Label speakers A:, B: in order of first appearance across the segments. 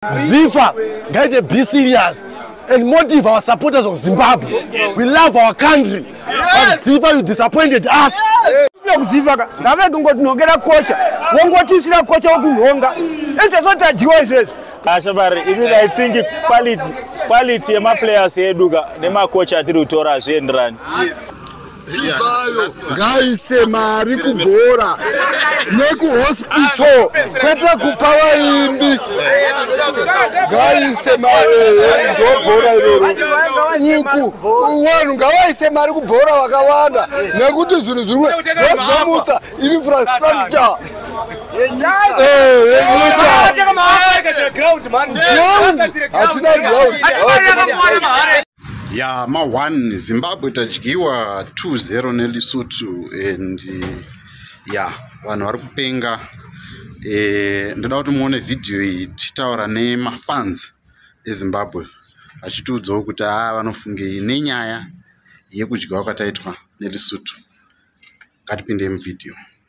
A: zifa ngaite be serious and motive our supporters of zimbabwe we love our country but zifa you disappointed us kuzivaka
B: ngavege ngotinhongera kocha wongotiisira kocha wokunhonga enchazotadyiwa izvezvo asha vari ini
C: i think quality yemaplayers eduka nemakocha atiri kutora hazvienderani chivayo
A: ngaise mari kugora nekuhospital kwete kupa vaimbi ngaise marindobhora iroro uku vanhu ngavaise mari kubhora vakawanda nekuti zvinhu zviri kuzomutsa infrastructure
D: hatina ground ya ma 1 zimbabwe tadyiwa 20 nelisutu and ya vanhu vari kupenga e, ndoda kuti muone vhidhiyo iyi tichitaura nemafans ezimbabwe achitiudzawo kuti haa vanofungei nenyaya yekudyiwa kwataitwa nelisutu ngatipindei muvhidhiyo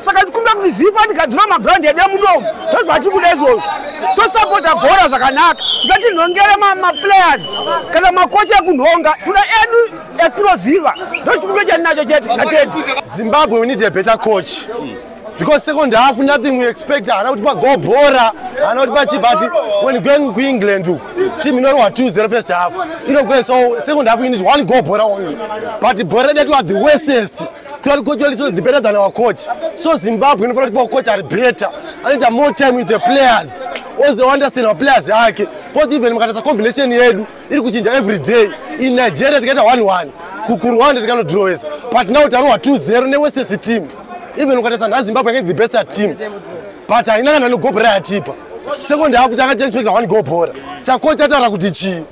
B: saka tikumbira kuti zifa tigadzira mabrand edu emunomu tozva tikuda izvozvo tosapota bhora zvakanaka usatinhongere maplayers kana makochi ekunhonga tuna edu etinoziva ndochikumbiro chandinacho chete natedi zimbabwe we need a
A: better coach because second half nothing we expect haana kuti pago bhora haana kuti pachi but when going kuengland uku team inorohwa two zero first half inogwe so second half you need one go bhora only but bhora redu are the westest Clearly, coach Wally is better than our coach. So Zimbabwe, in front of our coach are better. I need more time with the players. Also understand our players yake. Because even mkatasa combination yedu iri kuchinja every day. In Nigeria tikaita 1-1. KuRwanda tikano draw wese. But now tarowa 2-0 newesesi team. Even mkatasa na Zimbabwe against the best at team. But haina kana nogoal bora yatipa. Second half takaita expect one goal bora. Saka coach atara kuti chii?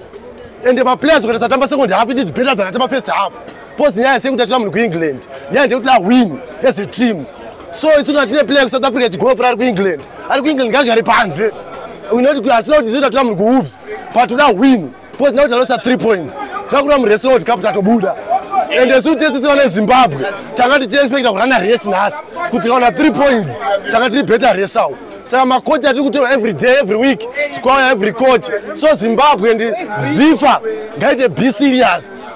A: And the players ukatasa tamba second half it is better than atamba first half. Pose nyaya sekuti atira munhu kuEngland. Nyaya ndekuti la win as a team. So it's not a player South Africa to go for ku England. Ari ku England ngagare panze. We know kuti asina kuti zvoda tura munhu kuWolves. But toda win. Pose nyaya kuti alosa 3 points. Chakura mureso kuti kapu tatobuda. And as soon as it's on Zimbabwe, tanga tichi expect to run a race nas. Kuti kaona 3 points, tanga tichi better race out. Saka ma coach atiri kutora every day, every week, chikwaya every coach. So Zimbabwe and Zifa, ngaite be serious.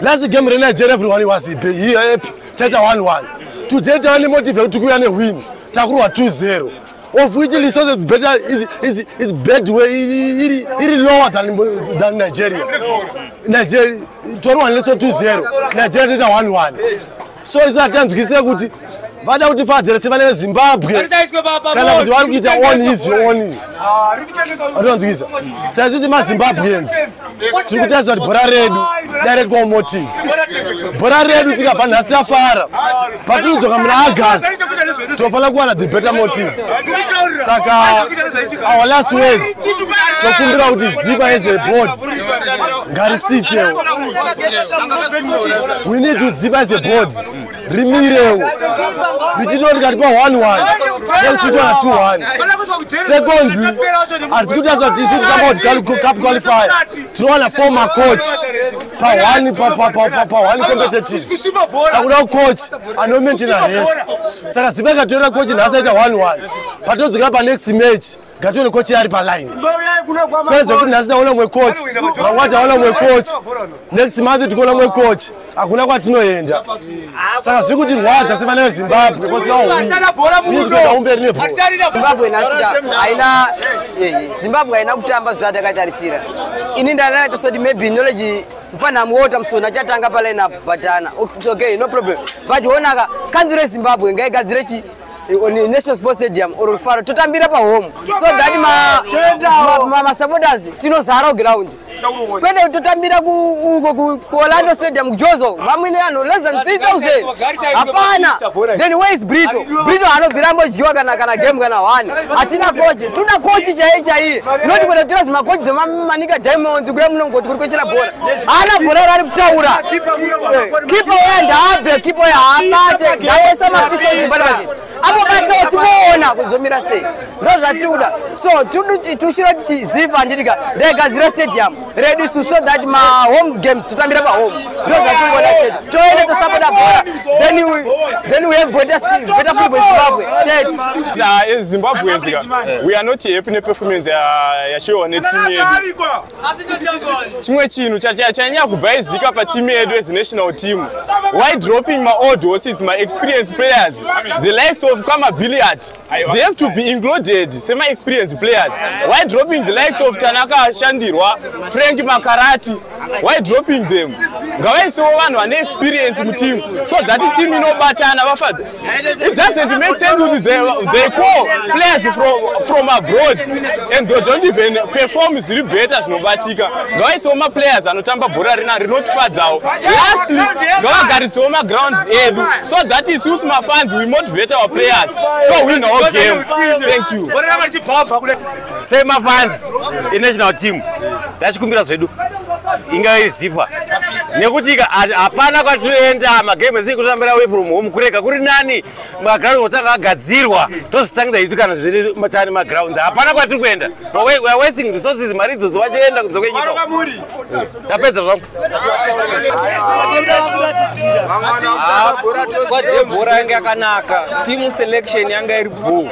A: last game renigeria everyone was happy here happy taita 11 today tava nemotive yekuti kuuya newin takurwa 20 of which lesotho is better is, is, is bad way iri, iri lower than, than nigeria nigeria torwa nelesotho 20 nigeria taita 11 so isu hatanzwisei kuti vada kuti fadzere sevana vezimbabwe kana kuti vari kuita on his on arivanzwisa saizvisi mazimbabweans tiri kutarisa kuti bhora redu direct kwa motive bhora redu tikabva nhasi tafara patiri kudzoka muna agast tofanira kuwana the better motive saka our last words tokumbira kuti zipa as a board ngarisitewo we need to zipa as a board rimirewo richitiwo ndikati pa one one nekuchitiwa na two one secondly hatisi kuti asati isu tisamboti cup qualifier tinowana four macoach pa one pa one competitive takuda kucoach anomaintaina rese saka ziva ikatoera coach nhasi aita one one patodzikira pa next match Ngatione coach ari pa line. Kwani zvekuti nhasi taona mwe coach, mangwana taona mwe coach. Next month tikuona mwe coach. Hakuna kwatinoenda. Saka zviri kuti rwadza sevana veZimbabwe because now we. Tikuenda umberi ne ball.
E: Zimbabwe nhasi haina Zimbabwe haina kutamba zvisati yakatarisira. Ini ndana kusoti maybe knowledge mfana muota msona achatanga pa line up but ana. It's okay, no problem. But honaka kanzure Zimbabwe ngaigadzire chi on national sports stadium or faro totambira pahome so that masupporters tinozara ground kwete totambira kuorlando stadium kujozo vamwene anhu less than 3000 hapana then where is brito brito anobvira ambodyiwa kana kana game kana one hatina kochi tuna kochi chaiye chaiye not kwete tora zvimakochi zvemamanika diamonds kuya munongoti kuri kwechera bhora haana bhora rari kutaura kipo uya ndaabve kipo uya haabate ndaoisa mapisoibaake apo batoo tinoona kuzomira sei ndo zvatiri kuda so tushira tichiziva handitika ndaigadzira stadium redu su so that mahome games totambira pahome ndo zvatiri kuda chete toende tosapota bhora then we have better football zimbabwe chete ezimbabwe nzika
F: we are not happy neperformance yachiwa netim yedu chimwe chinhu chanyanya kubhaizika patimu yedu as national team why dropping maold horses maexperience players the likes of kama billiard they have to be included semaexperience players why dropping the likes of tanaka shandirwa frank makarati why dropping them ngavaisewo vanhu vane experience muteam so that team inobatana vafadzi It doesn't make sense with the, they call players from, from abroad and they don't even perform zviri better zvinobatika ngavaisewo maplayers anotamba bhora rina rinotifadzawo lastly ngavagarisewo magrounds edu so that is use mafans we motivate our players to win our game thank you
G: semafans enational team tachikumbira zvedu inga iziva nekuti hapana kwatinoenda magame ese kutambira away from home kurega kuri nani maground otanga agadzirwa tozvitangidza itu kana zviri matani magrounds hapana kwatiri kuenda weare wasting resources mari idzodzo vachoenda kunze kwenyika tapedza zvangu
H: kwajebhora yanga yakanaka team selection yanga iri bhoo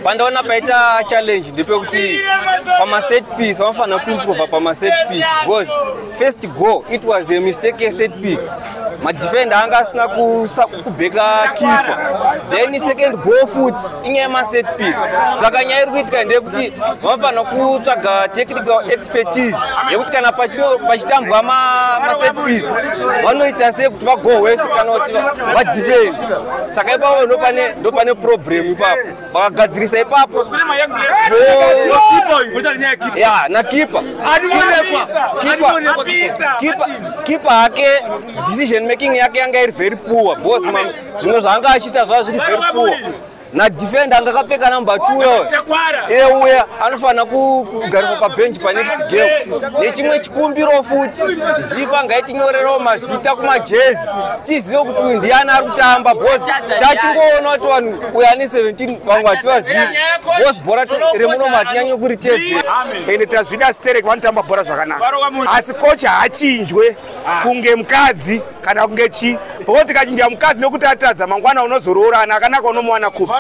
H: pandaona paita challenge ndepekuti pamaset piece vanofanira kuimprova pamaset piece because first go it was a mistake yeset piece madefende anga asina kubeka kipa then second go foot inyaya yemaset piece saka nyaya iri kuitika ndeyekuti vanofanira kutsvaga technical expertise yekuti kana pachitambwa maset piece vanoita sei kuti vagohwese kana kuti vadefende saka ipapo ndopane ndopane problem ipapo vakagadzirisa ipapo ya nakipa kipa hake decision making yake yanga iri very poor bos zvimwe zvaanga achiita zvaa zviri very poor nadefend anga akapfeka number two yo iye uya anofanira kugariswa pabench panext game nechimwe chikumbiro futi zifa ngaitinyorerawo mazita kumajezi tizive kuti uyu ndiani ari kutamba bcause tachingoona kuti vanhu uyo ane 17 vamwe hativazivi bcause bhora remunomo hatinyanye kuritevera ende tazvida
B: sterek vanotamba bhora zvakanaka asi kocha haachinjwe ah. kunge mukadzi kana kunge chii bcause tikachinja mukadzi nekuti atadza mangwana unozoroorana akanaka unomuwana kupi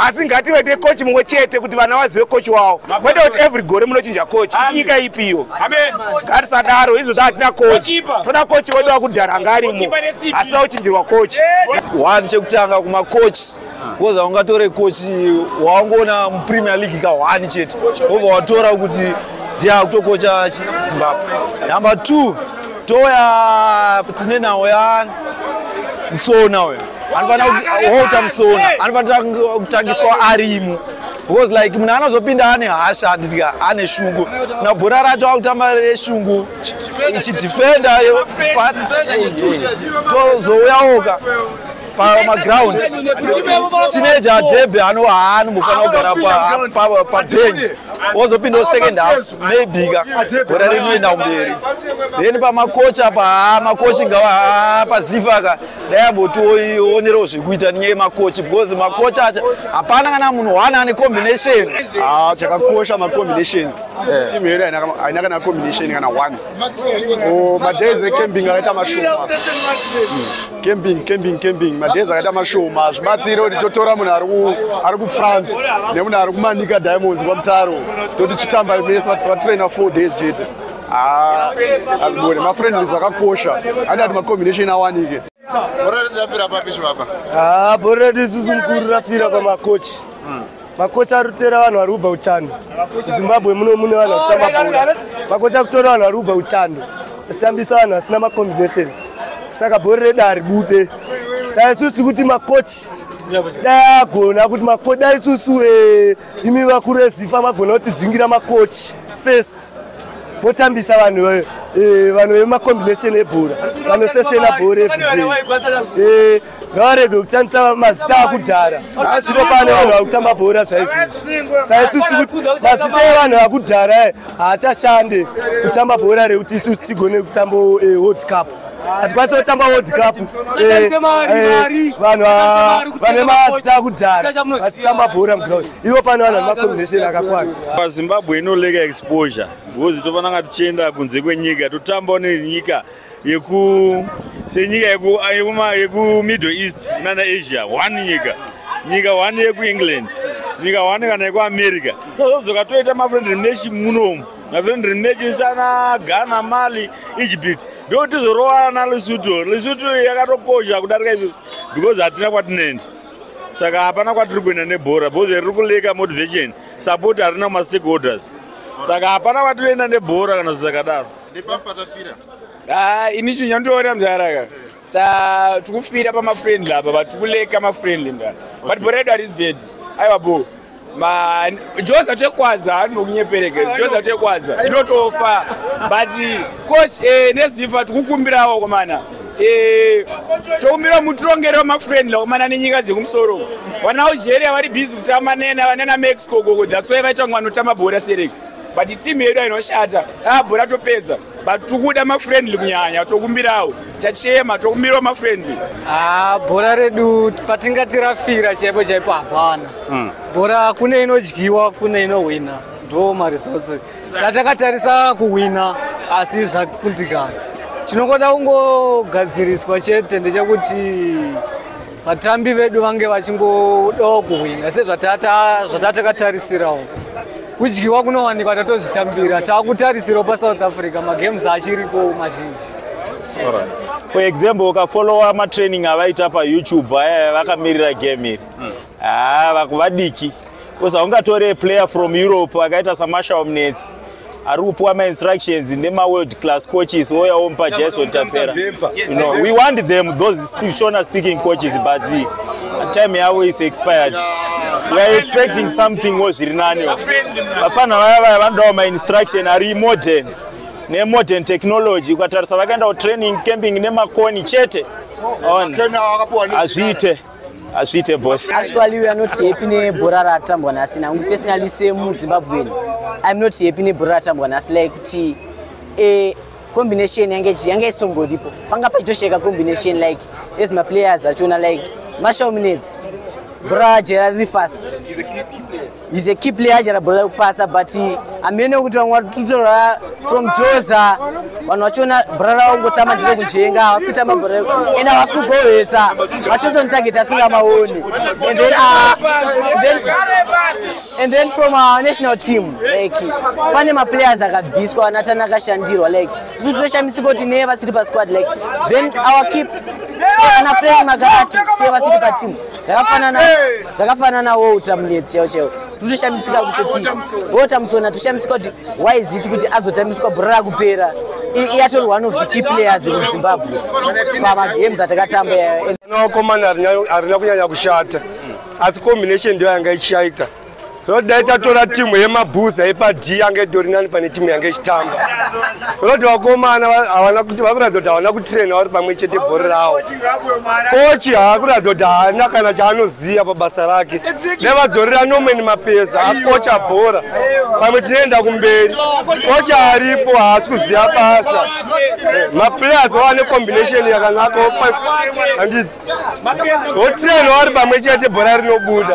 B: asi ngativete kochi mumwe chete kuti vana vazive kochi wavo kwete kuti every gore munochinja kochi inyika ipi iyo Amen. Ngatisadaro izvo zvatina kochi. Toda kochi wedu akudhara ngarimo. Asina kuchinjirwa kochi. One
I: chekutanga kuma kochi. Because aungatore kochi waungoona mu Premier League ka one chete. Over watora kuti ndiye akutokocha Zimbabwe. Number 2 toya tine nawo ya Msona uyo. Anofanira kuita Msona. Anofanira kutangiswa arimo. because like munhu anozopinda ane hasha handiti ane shungu na bhora racho akutamba reshungu ichidefenda tozouyawoka pamaground tineja debe anohaanombofana kugara pabench wozopinda second half maybe ka bhora rinoenda kumberi then pamakocha pa makochi ngawa pazifa ka dai ambotionerawo zvekuita nenyaya yemakochi because makochi acho hapana kana munhu one ane combination ah, chakakosha
B: macombinations eh. team yedu haina kana combination kana one oh, madays ecamping akaita mashoma hmm. camping camping camping madays akaita mashoma hazvibatsire kuti totora munhu ari kufrance nemunhu ari kumanika diamonds kwamutaro toti chitambai mese vatraina four days chete Ah, Agone, mafriendly zvakakosha. Hadi ati macombination awanike. Bhora redu rafira
D: papi chibaba? Ah, bhora redu isusu
A: mukuru rafira pamakochi. Hmm. Makochi ari kutera vanhu vari kubva uchando. Zimbabwe muno mune vanhu vari kutamba bhora. Makochi ari kutora vanhu vari kubva uchando. Achitambisa vanhu vasina macombinations. Saka bhora redu haribude. Saka isusu tiri kuti makochi dai agona kuti makochi dai isusu eh, imi vakuru ezifa magona kutidzingira makochi first motambisa vanhu eh, eh, vanhu vemacombination ebhora vanosesena bhora everyday eh, ngavarege kutambisa mazita akudhara zvino pane vanhu vakutamba bhora zvaizvizvi saisusu kuti mazita evanhu vakudhara haachashande kutamba bhora rekuti isusu tigone kutamba world cup hatikwanise kutamba world cup eh, eh, vanhu vane mazita kudhara vachitamba bhora muground ivo pano vanhu vane macombination akakwana pazimbabwe inoleka
C: exposure because tofananga tichienda kunze kwenyika totambawo nenyika yeku senyika yekumiddle eh, east nana asia one nyika nyika one yekuengland nyika one kana yekuamerica tozodzoka toita mafriend nation munomu my friend remake sana ghana mali egypt ndo tizorowana lesotho lesotho yakatokosha kudarika izvozvo because hatina kwatinoenda saka hapana kwatiri kuenda nebhora because riri kuleka motivation support harina kumastakeholders saka hapana kwatinoenda nebhora kana zvisakadaro nepapatafira ah,
H: ini chinyandiona mzaraka Ta tikufira pama friendly apa but kuleka ma friendly nda. Okay. But boredo ari bed. Aiwa bo. Ma Josa chekwaza anokunyepereka. Ah, Josa chekwaza. Inotofa. But coach eh nezifa tikukumbirawo komana. Eh tokumbira mutrongere wa ma friendly komana nenyika dzekumusoro. Vana Algeria vari busy kutamba nena vanana Mexico gogo. That's why vaitangwa notamba bora sereka. But team yedu inoshata. Ah bora topedza. but tikuda mafriendly kunyanya tokumbirawo tachema tokumbirawo mafriendly ah, bhora
J: redu patingatirafira chaipo chaipo hapana mm. bhora kune inodyiwa kune inohwina ndo maresults tatakatarisa kuhwina asi zvakundikana chinongoda kungogadziriswa chete ndechekuti vatambi vedu vange vachingodawo kuhwina sezvatatakatarisirawq kudyiwa kunowanikwa tatozvitambira takutarisirawo pasouth africa magames achiripo mazhinji
C: for example ukafollowa matraining avaita payoutube aya vakamirira game iri hmm. haa ah, vakuvadiki bcause haungatore player from europe akaita samashaomnetsi ari kupiwa mainstructions nemaworld class coaches oyawo mupa jason tapera you know, we want them those speak, shona speaking coaches but time yavo is expired we are expecting something wo zviri nani vapfanha vaya vaya vanodawo mainstruction ari modern nemodern technology ukatarisa vakaendawo training camping nemakoni chete on hazviite hazviite boss actually we are not happy
E: nebhora ratambwa nhasi nangu personally semuzimbabwen iam not happy nebhora ratambwa nhasi like kuti eh, combination yange yange isongoripo panga pachitosheka combination like as maplayers achona like mashal minutes bra jera riri fast He's a key player achara bhola rekupasa but hamene wekuti vamwe vari kututora from joza vanhu vachiona bhora ravo kungotamba ndire kujenga havasi kutamba bhora ende havasi kugovetsa vachizonitageti asingamaoni and then uh, then and then from our national team like pane maplayers akabviswa anatani akashandirwa like isu tinoshamisika kuti neye vasiri pasquad like then our keep ana frank magarati seye vasiri pateam zvakafanana zvakafanana wo utamunetsi yao chaiwo totoshamitsika kutoti votamusona toshamisika kuti why is it kuti azotambiswa bhora rakupera iatol one of the key players in zimbabwe pamagames atakatamba yayo naokomana
B: harina kunyanya kushata asi combination ndiyo yanga ichiaita Road
A: dai tatora timu yemabhuza epadhi yange itori nani pane timu yange ichitamba. Road vakomana havana kuti vakuratidza kuti havana kutraina vari pamwe chete bhori rawo. Kochi haakuratidza kuti haana kana chaanoziva pabasa rake. Nevadzorera Norman Mapeza akocha bhora. Pamwe tinoenda kumberi. Kochi aripo haasi kuziva basa. Maplayers vava necombination yakanaka. Handiti. Votraina vari pamwe chete bhora rinobuda.